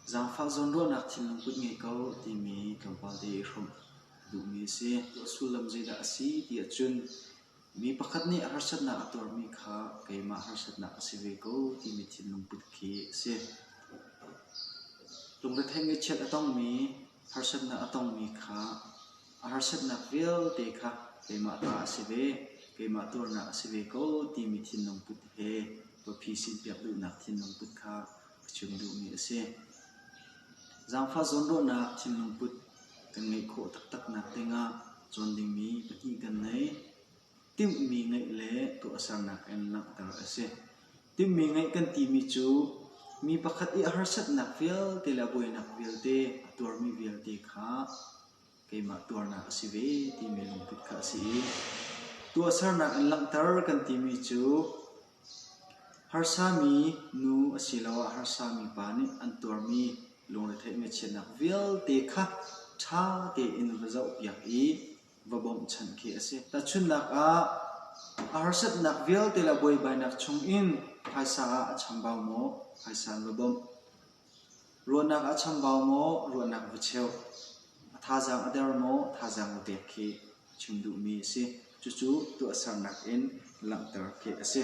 Zaangfah zawnruahnak thinlung kut ngei ko timi tlawmpal te i hrawmh a duhmi a si. Tuah sullam zeidah a si ti ahcun Mi pakhat nih harsatnak a tuarmi kha keimah harsatnak a si ve ko timi thinlungput khi a si. Lungrethei ngaihchiat a tongmi, harsatnak a tongmi kha a harsatnak vialte kha keimah ta a si ve, keimah tuarnak a si ve ko timi thinlungput he biaphi sinpiak duhnak thinlungput kha Zaangfah zawnruahnak thinlung put kan ngeih khawh taktaknak dingah cawn dingmi pahnih kan nei. Timhmi ngeih le tuahsernak in langhter a si. Timhmi ngeih kan timi cu mi pakhat i harsatnak vialte le buainak vialte a tuarmi vialte kha keimah tuarnak a si ve timi lungput kha a si i tuahsernak in langhter kan timi cu harsa mi nu asiloah harsa mi pa nih an tuarmi lungretheih ngaihchiatnak vialte kha ṭha tein va zohpiak i va bawmhchanh khi a si. Tahchunhnak ah, a harsatnak vialte le buaibainak chung in phaisa ah a chambau maw? Phaisa in va bawmh. Ruahnak a chambau maw ruahnak va cheuh, a thazaang a der maw thazaang va pek khi a chim duhmi a si. Cucu tuahsernak in langhter khi a si.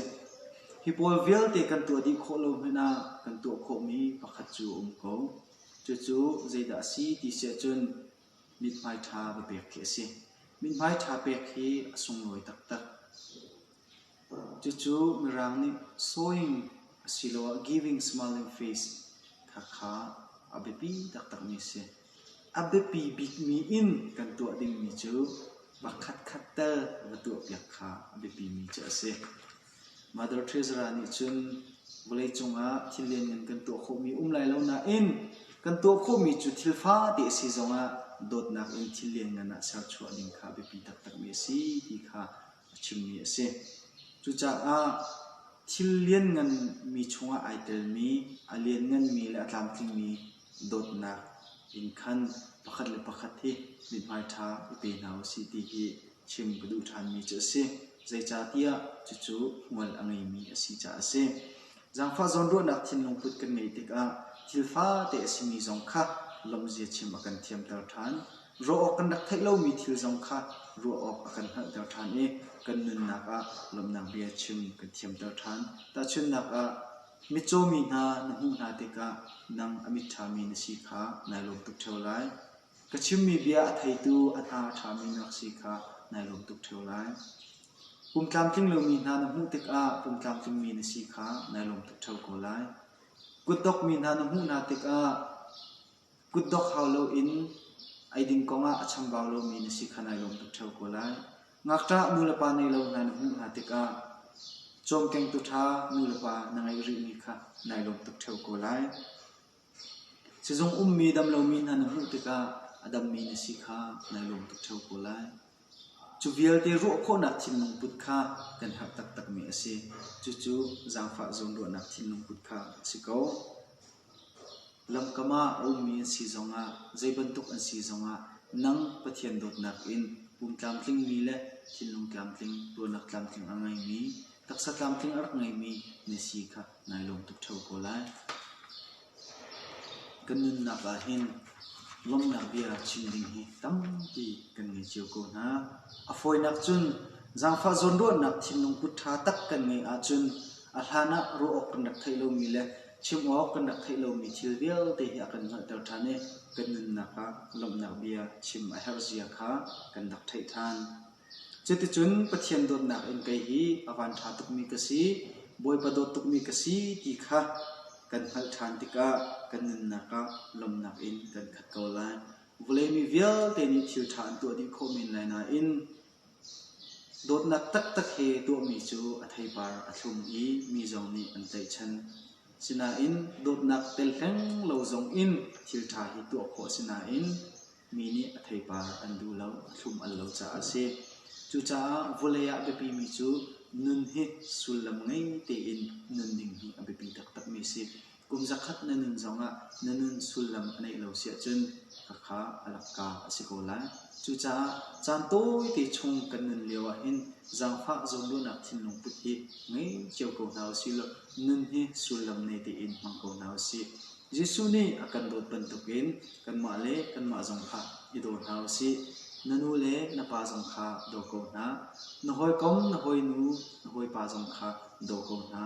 Hi pawl vialte kan tuah dih khawh lo hmanh ah kan tuah khawhmi pakhat cu a um ko. Cucu zeidah a si ti siahcun mithmai ṭha va pek khi a si. Mithmai ṭha pek hi a sunglawi taktak. Cucu Mirang nih sawing asiloah giving smiling face khakha a biapi taktakmi a si. A biapi bikmi in kan tuah dingmi cu pakhatkhat tal va tuahpiak kha a biapimi cu a si. Mother Teresa nih cun vawleicung ah thillian ngan kan tuah khawhmi a um lai lo nain kan tuah khawhmi cu thil fate a si zongah dawtnak in thillian ngan ah serchuah ding kha a biapi taktakmi a si ti kha a chimmi a si. Cucaah thil liannganmi chungah ai telmi, a liannganmi le a tlamtlingmi dawtnak in khan pakhat le pakhat hi mithmai ṭha i pe hna u sih ti hi chim ka duh ṭhanmi cu a si. Zeicahtiah cucu hmual a ngeimi a si caah a si. Zaangfah zawnruahnak thinlungput kan ngeih tikah thil fate a simi zong kha lawmhzia chim a kan thiamter ṭhan. Ruah awk kan rak theih lomi thil zong kha ruah awk a kan hngalhter ṭhan i kan nunnak ah lawmhnak bia chim kan thiamter ṭhan. Tahchunhnak ah, mitcaw mi hna na hmuh hna tikah nang a mit ṭhami na si kha nai lawm tuk ṭheo lai. Ka chimmi bia a theitu a hna a ṭhami na rak si kha nai lawm tuk ṭheo lai. Pumtlamtling lomi hna na hmuh tikah pumtlamtlingmi na si kha nai lawm tuk ṭheo ko lai. Kutdok mi hna na hmuh hna tikah Kutdok hau loin eidin kongah a chambau lomi na si kha nai lawm tuk ṭheo ko lai. Ngakṭah nulepa nei lo hna na hmuh hna tikah cawmkengtu ṭha nulepa na ngeih rihmi kha nai lawm tuk ṭheo ko lai. Sizung ummi dam lomi hna na hmuh tikah a dammi na si kha nai lawm tuk ṭheo ko lai. Cu vialte ruah khawhnak thinlungput kha kan herh taktakmi a si. Cucu zaangfah zawnruahnak thinlungput kha a si ko. Lamkam ah a ummi an si zongah, zei bantuk an si zongah nang Pathian dawtnak in pum tlamtlingmi le thinlung tlamtling, tuarnak tlamtling a ngeimi, taksa tlamtling a rak ngeimi na si kha nai lawm tuk ṭheo ko lai. Kan nunnak ahhin lawmhnak bia chim ding hi tampi kan ngei cio ko hna. A fawinak cun zaangfah zawnruahnak thinlung kut ṭha tak kan ngeih ahcun a hlan ah ruah awk kan rak theih lomi le chim awk kan rak theih lomi thil vialte hi a kan hngalhter ṭhan i kan nunnak ah lawmhnak bia chim a herh zia kha kan rak theih ṭhan. Cuticun Pathian dawtnak in kei hi a van ṭha tukmi ka si, Bawipa dawt tukmi ka si ti kha kan hngalh ṭhan tikah kan nunnak ah lawmnak in kan khat ko lai. Vawlei mi vialte nih thil ṭha an tuah dih khawh men lai nain dawtnak taktak he tuahmi cu a theipar a thlum i mi zong nih an tlaihchan. Sinain dawtnak tel hleng lo zong in thil ṭha hi tuah khawh a si nain Mi nih a theipar an duh lo, a thlum an lo caah a si. Cucaah vawlei ah a biapimi cu nun hi sullam ngei tein nun ding hi a biapi taktakmi a si. Kum zakhat na nun zongah na nun sullam a neih lo si ahcun khakha a lakka a si ko lai. Cucaah caan tawite chung kan nun lio ahhin zaangfah zawnruahnak thinlung put hi ngei cio ko hna usih law nun hi sullam nei tein hmang ko hna usih. Jesuh nih a kan dawt bantukin kanmah le kanmah zong kha i daw hna u sih. Na nu le na pa zong kha daw ko hna. Na hawikom, na hawinu, na hawipa zong kha daw ko hna.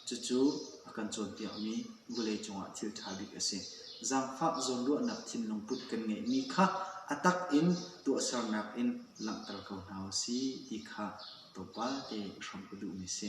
Cucu a kan cawnpiakmi vawlei cungah thil ṭha bik a si. Zaangfah zawnruahnak thinlung put kan ngeihmi kha a tak in tuahsernak in langhter ko hna u sih ti kha tawpate i hrawm ka duhmi a si.